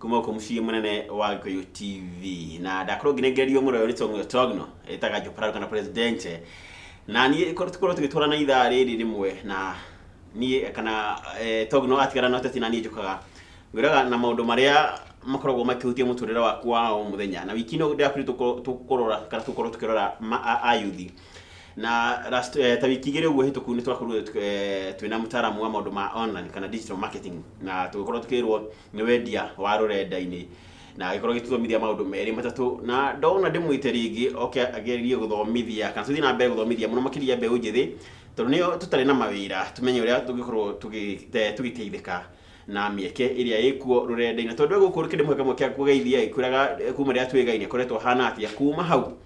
kuma uko muciĩ munene wa gikuyu tv na ndakorwo ngirengerio mũrwe ũrĩ tong'o togno ĩtaga jopraro kana presidente na niĩ korwo tukorwo tũgĩtwara na ithaa rĩrĩ rĩmwe na niĩ kana eh, togno atigara na ũteti na niĩ njũkaga ngwĩraga na maũndũ marĩa makoragwo makĩhutia mũtũrĩre waku wa o mũthenya na wiki ĩno ndĩrakwĩrire tũkũrora kana tũkorwo tũkĩrora ma- a- ayuthi na last, eh, ta wiki igĩrĩ ũguo hĩtũku nĩ twakorwo eh, twĩna mũtaaramu wa maũndũ ma online kana digital marketing na tũgĩkorwo tũkĩrwo nĩ wendia wa rũrenda-inĩ na agĩkorwo gĩtuthomithia maũndũ merĩ matatũ na ndona ndĩmwĩte rĩngĩ oke agerie gũthomithia kana tũthiĩ na mbere gũthomithia mũno makĩria mbeũ njĩthĩ tondũ nĩo tũtarĩ na mawĩra tũmenye ũrĩa tũngĩkorwo tũgĩ- te- tũgĩteithĩka na mĩeke ĩrĩa ĩkuo rũrenda-inĩ tondũ gũkũ kĩndũ kĩmwe kĩmwe kĩa kũgeithia ĩ, kwĩraga eh, kuma rĩrĩa twĩgai nĩ akoretwo hana atĩa kuma hau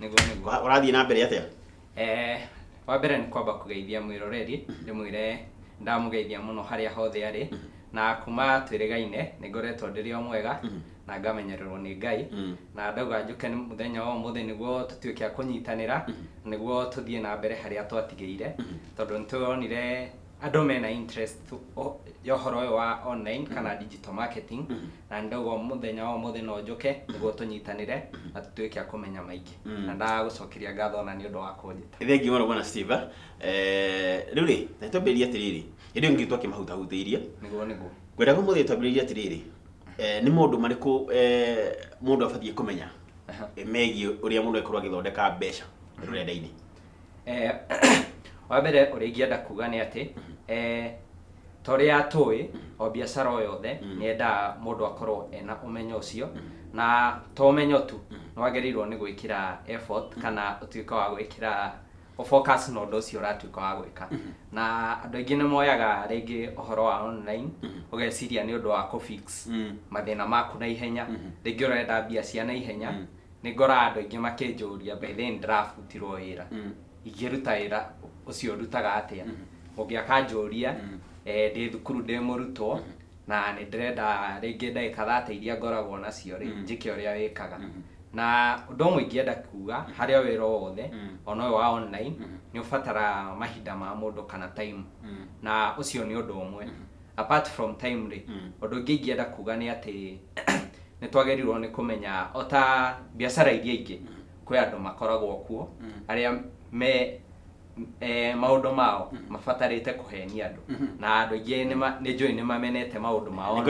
nĩguo nĩguo Wa- ũrathiĩ na mbere atĩa Eh, wa mbere nĩ kwamba kũgeithia mwĩroreri ndĩmwĩre ndamũgeithia mũno harĩa hothe arĩ na kuma twĩrĩgaine nĩ ngoretwo ndĩrĩ o mwega na ngamenyererwo nĩ ngai Mm. na ndauga njũke nĩ mũthenya wa ũmũthĩ nĩguo tũtuĩke a kũnyitanĩra nĩguo tũthiĩ na mbere harĩa twatigĩire tondũ nĩ tũronire andũ mena interest o- ya ũhoro ũyũ wa online kana digital marketing na ndauga o mũthenya wa ũmũthĩ no njũke nĩguo tũnyitanĩre na tũtuĩke a kũmenya maingĩ Mm. na ndagũcokeria ngatho ona nĩ ũndũ wa kũnjĩta thengi mũno bwana steve eh, rĩu rĩ na twambĩrĩria atĩrĩrĩ hĩndĩ ĩyo ngitũ akĩmahutahutĩirie nĩguo nĩguo ngwendaga mũthĩ twambĩrĩria atĩrĩrĩ eh, nĩ maũndũ marĩkũ eh, mũndũ abatiĩ kũmenya Aha. eh, megiĩ ũrĩa mũndũ agĩkorwo agĩthondeka mbeca rũrenda-inĩ Eh, wa mbere ũrĩa ingĩenda kuga nĩ atĩ eh, ta ũrĩa tũĩ o biacara o yothe nĩ yendaga mũndũ akorwo ena ũmenyo ũcio na to ũmenyo tu nĩ wagĩrĩirwo nĩ gwĩkĩra effort kana ũtuĩke wa gwĩkĩra ũfocus na ũndũ ũcio ũratuĩka wa gwĩka na andũ aingĩ nĩ moyaga rĩngĩ ũhoro wa online ũgeciria nĩ ũndũ wa kũ fix mathĩna maku na ihenya rĩngĩ ũrenda mbia cia na ihenya nĩ ngoraga andũ aingĩ makĩnjũria by then ndĩrabutirwo wĩra ingĩruta wĩra ũcio ndutaga atĩa mũngĩ akanjũria eh, ndĩ thukuru ndĩ mũrutwo na nĩ ndĩrenda rĩngĩ ndagĩka thate iria ngoragwo nacio rĩ njĩke ũrĩa wĩkaga na ũndũ ũmwe ingĩenda kuga harĩ o wĩra o wothe ona ũyũ wa online nĩ ũbatara mahinda ma mũndũ kana time na ũcio nĩ ũndũ ũmwe apart from time rĩ mm. ũndũ ũngĩ ingĩenda kuga nĩ atĩ nĩ twagĩrĩirwo nĩ kũmenya o ta biacara iria ingĩ mm. kwĩ andũ makoragwo kuo mm. arĩa me e, maundu mao mm-hmm. mabatarite kuhenia andu mm-hmm. na andu ingi ni njui ni mamenete maundu mao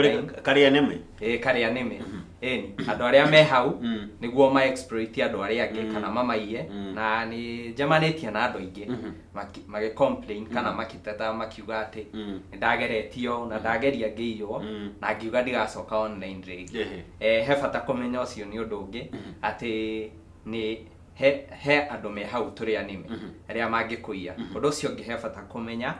karia nime e karia nime mm-hmm. eni andu aria me hau mm. niguo ma exploit andu aria angi mm. kana mamaiye mm. na ni njamanitie na andu ingi maki- magĩ complain kana makĩteta makiuga atĩ Mm. nĩndageretie ũũ na ndageria ngĩiywo Mm. na ngiuga ndigacoka online rĩngĩ Ehe. eh, he bata kũmenya ũcio nĩ ũndũ ũngĩ atĩ nĩ he, he andũ me hau tũrĩ anime Mhm. arĩa mangĩkũiya ũndũ ũcio ũngĩ he bata kũmenya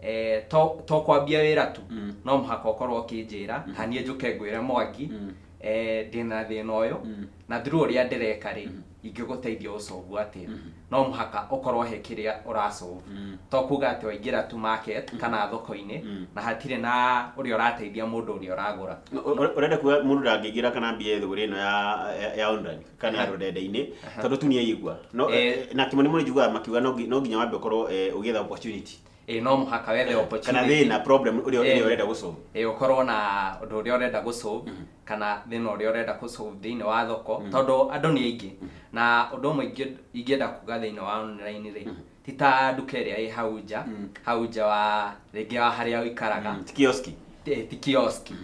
eh, to, to kwambia wĩra tu Mm. no mũhaka ũkorwo ũkĩnjĩra haniĩ njũke ngwĩre mwangi Mm. eh, ndĩ na thĩna ũyũ Mm. na through ũrĩa ndĩreka rĩ Mhm. ingĩgũteithia ũcovu atĩa Mhm. no mũhaka ũkorwo he kĩrĩa ũracovu Mm. to kuga atĩ waingĩra tu market kana thoko-inĩ Mm. na hatirĩ na ũrĩa ũrateithia mũndũ ũrĩa ũragũra Ũ- ũrenda kuga mũndũ ndangĩingĩra kana mbia thũgũrĩ ĩno ya- ya- ya online kana ya Aha. rũrenda-inĩ Aha. tondũ tu nĩ aigua no Eh. eh, na kĩmoni mũno njiguaga makiuga no ngi- no nginya wambe ũkorwo eh, ũgĩetha opportunity ĩ no mũhaka wethe kana opportunity thĩna problem ũrĩa Eh. ũrĩa ũrenda gũcoma ĩ ũkorwo na ũndũ ũrĩa ũrenda gũsolve kana thĩna ũrĩa ũrenda gũsolve thĩinĩ wa thoko tondũ andũ nĩ aingĩ na ũndũ ũmwe ingĩ- ingĩenda kuga thĩinĩ wa online rĩ ti ta nduka ĩrĩa ĩ hau nja hau nja wa rĩngĩ wa harĩa ũikaraga ti kioski Ti- ti kioski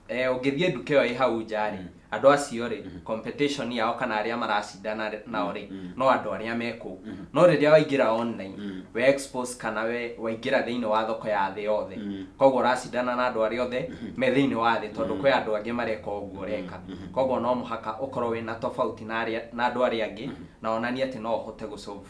eh, ũngĩthiĩ nduka ĩyo ĩ hau nja rĩ andũ acio rĩ competition yao kana arĩa maracindana rĩ- nao rĩ no andũ arĩa me kũu no rĩrĩa waingĩra online we expose kana we waingĩra thĩinĩ wa thoko ya thĩ yothe koguo ũracindana na andũ arĩa othe me thĩinĩ wa thĩ tondũ kwĩ andũ angĩ mareka ũguo ũreka koguo no mũhaka ũkorwo wĩna tofauti na arĩa- na andũ arĩa angĩ na onanie atĩ no ũhote gũ solve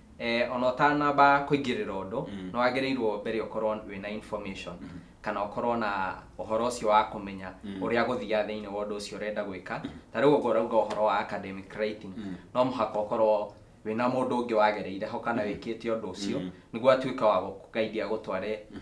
Eh, ona ũtanamba kũingĩrĩra ũndũ mm. nĩ wagĩrĩirwo mbere ũkorwo wĩna information mm. kana ũkorwo na ũhoro ũcio wa kũmenya mm. ũrĩa gũthiaga thĩinĩ wa ũndũ ũcio ũrenda gwĩka mm. ta rĩu ũguo ũrauga ũhoro wa academic writing mm. no mũhaka ũkorwo wĩna mũndũ ũngĩ wagereire ho kana mm. wĩkĩte ũndũ ũcio mm. nĩguo atuĩka wa gũkũgaidia gũtware mm.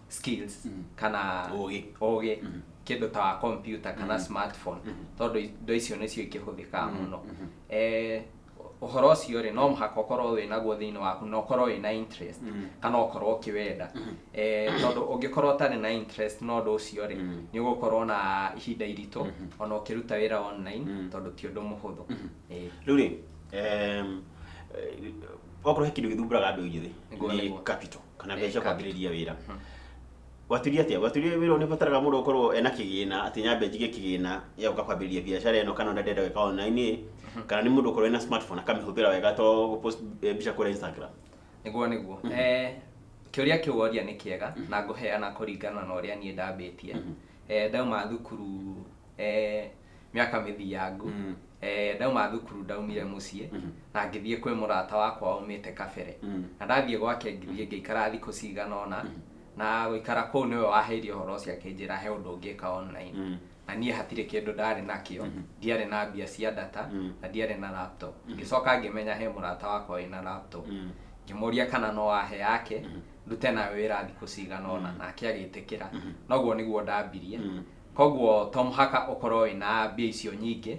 skills mm. kana ũgĩ ũgĩ mm -hmm kindu ta computer kana mm -hmm. smartphone mm -hmm. tondu indo icio nicio ikihũthĩkaga mm-hmm. muno mm -hmm. eh uhoro ucio ri no muhaka ukorwo wi naguo thiini waku na ukorwo wi na interest mm. kana ukorwo ukiwenda mm-hmm. eh tondu ungikorwo utari na interest no ndu ucio ri mm. ni ugukorwo na ihinda iritu mm-hmm. ona ukiruta wira online mm. tondu ti undu muhuthu eh. riu ri em eh, okorwo he kindu githumburaga andu ithuĩ ni capital kana mbeca cia kwambĩrĩria wĩra gwaturia atĩa gwaturia wĩra nĩ bataraga mũndũ gũkorwo ena kĩgĩna atĩ nyambe njige kĩgĩna ya gũka kwambĩrĩria biacara ĩno kana ũrĩa ndĩrenda gwĩka online kana nĩ mũndũ ũkorwo ena smartphone akamĩhũthĩra wega to gũpost eh, mbica kũrĩa instagram nĩguo nĩguo Eh, kĩũria kĩu woria nĩ kĩega na ngũheana kũringana na ũrĩa niĩ ndambĩtie Eh, ndauma thukuru eh, mĩaka mĩthiangu mm. eh, ndauma thukuru ndaumire muciĩ mm. na ngĩthiĩ kwĩ mũrata wakwa umĩte kabere mm. na ndathiĩ gwake ngĩthiĩ ngĩikara thikũ cigana ona mm. na gũikara kũu nĩwe waheire ũhoro ũcio akĩnjĩra he ũndũ ũngĩka online mm na niä hatirä kä ndå ndarä nakä o mhm. ndiarä na mbia cia data mhm. na ndiarä na laptop mhm. ngä coka ngä menya he må rata wakwa wä na laptop ngä må ria kana no ahe yake ndute nawe wä ra thikå cigana ona nake agä tä kä ra noguo nä guo ndambirie Koguo to mũhaka ũkorwo wĩna mbia icio nyingĩ,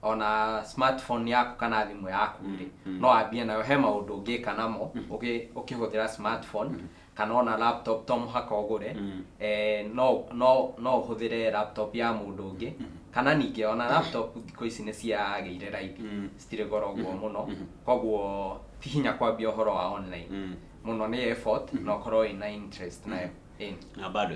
ona smartphone yaku kana thimũ yaku rĩ, no wambie nayo. He maũndũ ũngĩka namo ũgĩ- ũkĩhũthĩra smartphone, kana ona laptop to mũhaka ũgũre. Eh, no no no ũhũthĩre laptop ya mũndũ ũngĩ, kana ningĩ ona laptop thikũ ici nĩciagĩire raithi, citirĩ goro ũguo mũno, koguo ti hinya kwambia ũhoro wa online. Mũno nĩ effort na ũkorwo wĩna interest nayo. Ĩni. Na bado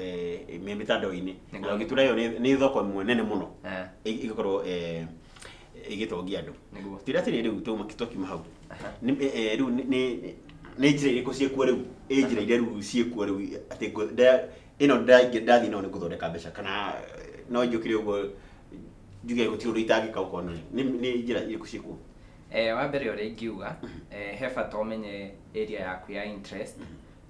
eh, me mĩtandao-inĩ Nĩ na gĩtura ĩyo nĩ- nĩ thoko ĩmwe nene mũno Eh, ĩ- ĩgĩkorwo eh, ĩgĩtongia andũ nĩguo tira atĩrĩ rĩu tuma twakiuma hau Aha. Nĩ- eh, eh, rĩu nĩ- nĩ nĩ njĩra irĩkũ ciĩkuo rĩu ĩ njĩra iria rĩu ciĩkuo rĩu atĩ ngũ- nda- ĩno ndaingĩ- ndathiĩ nayo nĩ gũthondeka mbeca kana eh, no njũkire ũguo njuge gũtirĩ ũndũ itangĩka gũkorwo nĩ nĩ- nĩ njĩra irĩkũ ciĩkuo Eh, wa mbere ũrĩa ingiuga eh, he bata ũmenye area yaku ya interest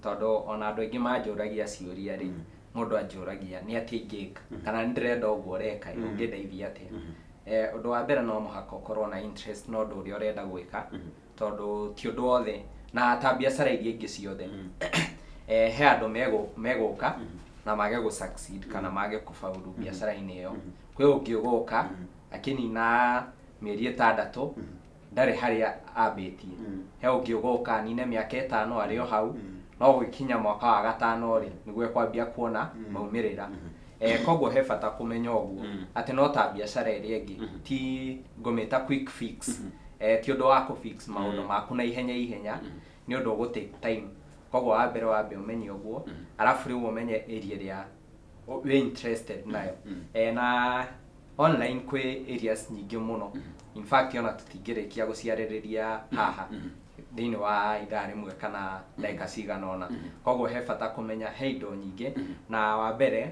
Tondũ ona andũ aingĩ manjũragia ciũria rĩ, mũndũ anjũragia nĩ atĩa ingĩka kana nĩ ndĩrenda ũguo ũreka ĩ, ũngĩndeithia atĩa? Eh, Ũndũ wa mbere no mũhaka ũkorwo na interest na ũndũ ũrĩa ũrenda gwĩka, tondũ ti ũndũ wothe, na ta biacara iria ingĩ ciothe, eh, he andũ megũ- megũka na mage gũ succeed kana mage kũbaũrũ biacara-inĩ ĩyo. Kwĩ ũngĩ ũgũka akĩnina mĩeri ĩtandatũ ndarĩ harĩa ambĩtie Mm. he ũngĩ ũgoka nine mĩaka ĩtano arĩ o hau Mm. no gũgĩkinya mwaka wa gatano rĩ nĩguo ekwambia kuona Mm. maumĩrĩra Mhm. Eh, koguo he bata kũmenya ũguo Mm. atĩ no ta biacara ĩrĩa ĩngĩ Mhm. ti ngũmĩta quick fix Mhm. Eh, ti ũndũ wa kũ fix maũndũ Mm. maku na ihenya ihenya Mhm. nĩ ũndũ ũgũ take time koguo wa mbere wambe ũmenye ũguo Mhm. arabu rĩu ũmenye area ĩrĩa o- wĩ interested nayo Eh, na online kwĩ areas nyingĩ mũno in fact ona tũtingĩrĩkia gũciarĩrĩria haha thĩinĩ wa ithaa rĩmwe kana ndagĩka cigana ona koguo he bata kũmenya he indo nyingĩ na wa mbere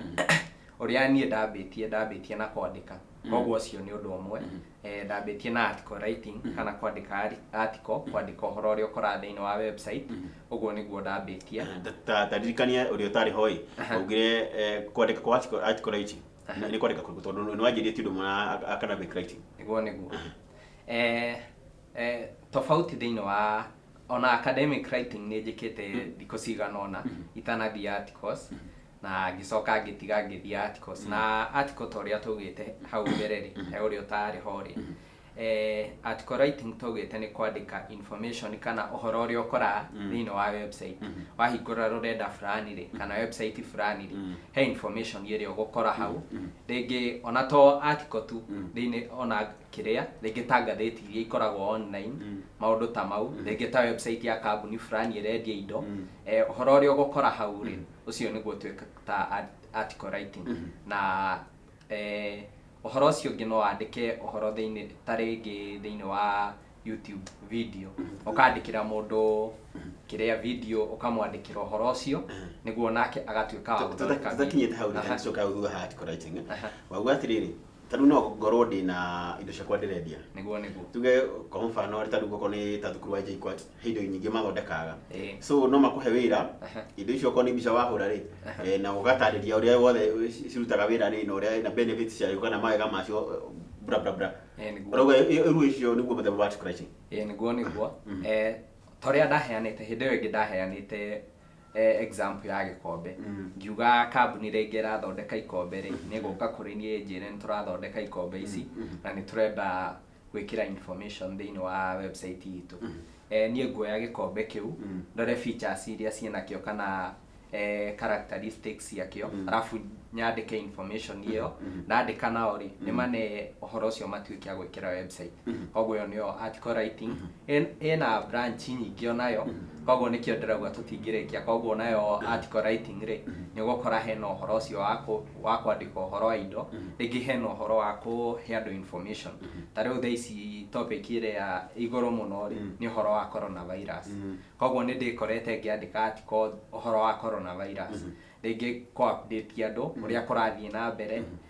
ũrĩa niĩ ndambĩtie ndambĩtie na kwandĩka koguo ũcio nĩ ũndũ ũmwe eh, ndambĩtie na article writing kana kwandĩka ari- article kwandĩka ũhoro ũrĩa ũkoraga thĩinĩ wa website ũguo nĩguo ndambĩtie Ta- ta- ta ndirikania ũrĩa ũtarĩ hoi Aha. augire eh, kwandĩka kwa article- article writing Aha. nĩ kwandĩka kũrĩkũ tondũ nĩ wanjĩrie ti ũndũ ũmwe na ac- academic writing nĩguo nĩguo eh, eh, tofauti thĩinĩ wa ona academic writing nĩ njĩkĩte thikũ cigana ona itanathiĩ articles na ngĩcoka ngĩtiga ngĩthiĩ Articles na article ta ũrĩa twaugĩte hau mbere rĩ he ũrĩa ũtarĩ ho rĩ eh, article writing twaugĩte nĩ kwandĩka information kana ũhoro ũrĩa ũkoraga thĩinĩ wa website wahingũra rũrenda fulani rĩ kana website fulani rĩ he information ĩrĩa ũgũkora hau rĩngĩ ona to article tu thĩinĩ ona kĩrĩa rĩngĩ ta ngathĩti iria ikoragwo online maũndũ ta mau rĩngĩ ta website ya kambuni fulani ĩrendia indo eh, ũhoro ũrĩa ũgũkora hau rĩ ũcio nĩguo twĩta art- article writing na eh, ũhoro ũcio ũngĩ no wandĩke ũhoro thĩinĩ ta rĩngĩ thĩinĩ wa youtube video ũkandĩkĩra mũndũ kĩrĩa video ũkamwandĩkĩra ũhoro ũcio nĩguo nake agatuĩka wa gũthondeka video. tũtakinyĩte hau Aha. rĩcoka thutha ha article writing Aha. wauga atĩrĩrĩ ta rĩu no ngorwo ndĩ na indo ciakwa ndĩrendia niguo niguo tuge kwa mũbano rĩ ta rĩu goko nĩ ta thukuru wa JKUAT he indo nyingĩ mathondekaga Eh. so no makũhe wĩra Aha. indo icio okorwo nĩ mbica wahũra rĩ eh, na ũgatarĩria ũrĩa wothe ci- cirutaga wĩra rĩ na ũrĩa na benefits ciayo kana mawega macio eh, bra bra bra Eh, nĩguo. ũrauga rĩu icio nĩguo mũthemba wa scratching Eh, niguo niguo Eh, ta ũrĩa ndaheanĩte hĩndĩ ĩyo ĩngĩ ndaheanĩte eh, example ya gĩkombe Mm. ngiuga kambuni rĩngĩ ĩrathondeka ikombe rĩ nĩgũka kũrĩ niĩ njĩre nĩ tũrathondeka ikombe ici na nĩ tũrenda gwĩkĩra information thĩinĩ wa website itũ eh, niĩ nguoya gĩkombe kĩu Mm. ndore features iria ciĩnakĩo kana eh, characteristics ciakĩo arabu nyandĩke information ĩyo nandĩka nao rĩ nĩmane ũhoro ũcio matuĩke a gwĩkĩra website koguo ĩyo nĩyo article writing ĩ- ĩna branch nyingĩ onayo koguo nĩkĩo ndĩrauga tũtingĩrĩkia koguo nayo article writing rĩ nĩ ũgũkora hena ũhoro ũcio wa kũ- wa kwandĩka ũhoro wa indo rĩngĩ hena ũhoro wa kũhe andũ information ta rĩu thaa ici topic ĩrĩa igũrũ mũno rĩ nĩ ũhoro wa corona virus koguo nĩ ndĩkorete ngĩandĩka article ũhoro wa corona virus rĩngĩ kũ update andũ ũrĩa kũrathiĩ na mbere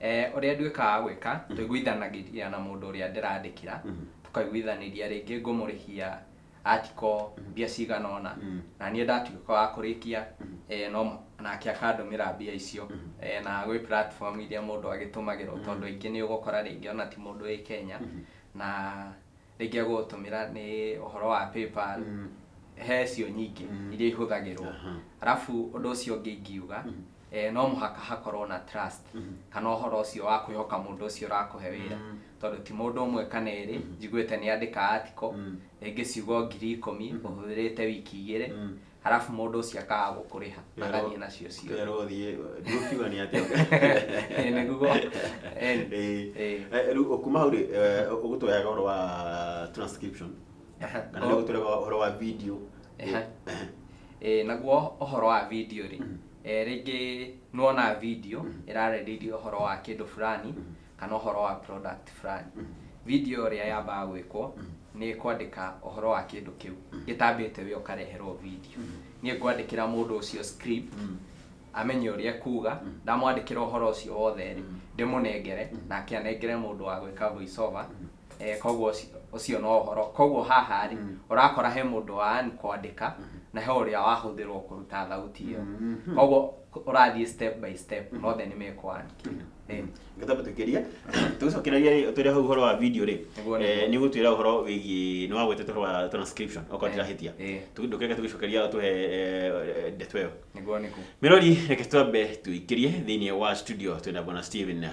Eh, ũrĩa nduĩkaga gwĩka tũiguithanagĩria na mũndũ ũrĩa ndĩrandĩkĩra tũkaiguithanĩria rĩngĩ ngũmũrĩhia atiko mbia cigana ũna na niĩ ndatuĩka wa kũrĩkia eh, no mũ- nake akandũmĩra mbia icio Eh, na gwĩ platform iria mũndũ agĩtũmagĩrwo tondũ ingĩ nĩ ũgũkora rĩngĩ ona ti mũndũ wĩ Kenya na rĩngĩ agũgũtũmĩra nĩ ũhoro wa PayPal, Mm. he cio nyingĩ Mm. iria ihũthagĩrwo Aha. arabu ũndũ ũcio ũngĩ ingiuga Mhm. eh, no mũhaka hakorwo na trust Mhm. kana ũhoro ũcio wa kwĩhoka mũndũ ũcio ũrakũhe wĩra Mm. tondũ ti mũndũ ũmwe kana erĩ njiguĩte nĩ andĩka article Mm. rĩngĩ ciugo ngiri ikũmi ũhũthĩrĩte wiki igĩrĩ Mm. harabu mũndũ ũcio akaga gũkũrĩha agathiĩ nacio cio kerwo thiĩ ndũkiuga nĩ atĩa Ĩ, nĩguo Ĩ, Ĩ. Ĩ. Eh, rĩu kuma hau rĩ eh, ũgũtũheaga ũhoro wa transcription Aha. kana nĩ ũgũtũheaga ũhoro wa video Aha. Eh, naguo ũhoro wa video rĩ eh, rĩngĩ nĩwona video ĩrarĩrĩria ũhoro wa kĩndũ fulani kana ũhoro wa product fulani video ĩrĩa yambaga gwĩkwo nĩ kwandĩka ũhoro wa kĩndũ kĩu gĩtambĩte we ũkareherwo video niĩ ngwandĩkĩra mũndũ ũcio script amenye ũrĩa kuga ndamwandĩkĩra ũhoro ũcio wothe rĩ ndĩmũnengere nake anengere mũndũ wa gwĩka voice over eh, koguo ũci- ũcio no ũhoro koguo haha rĩ ũrakora he mũndũ wa an kwandĩka na he ũrĩa wahũthĩrwo kũruta thauti ĩyo koguo ũrathiĩ step by step mothe nĩ mekwa an kĩndũ Eh, ngĩtamba tũkĩria tũgĩcokereria rĩ twĩre hau ũhoro wa video rĩ Nĩguo, eh, nĩguo. nĩ gũtwĩra ũhoro wĩgiĩ nĩ wagwetete ũhoro wa transcription okorwo Eh, ndirahĩtia eh. ndũkĩreke tũgĩcokeria ũtũhe eh, eh, ndeto ĩyo nĩguo nĩguo mirori reke twambe tuikirie thĩinĩ wa studio twĩna bwana steven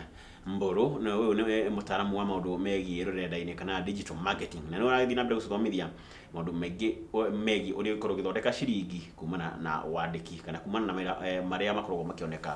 mbũrũ na ũyũ nĩ mũtaaramu wa maũndũ megiĩ rũrenda-inĩ kana digital marketing na nĩ ũrathiĩ na mbere gũtũthomithia maũndũ maingĩ o- megiĩ ũrĩa ũkorwo ũgĩthondeka ciringi kumana na wandĩki kana kumana na mawĩra eh, marĩa makoragwo makĩoneka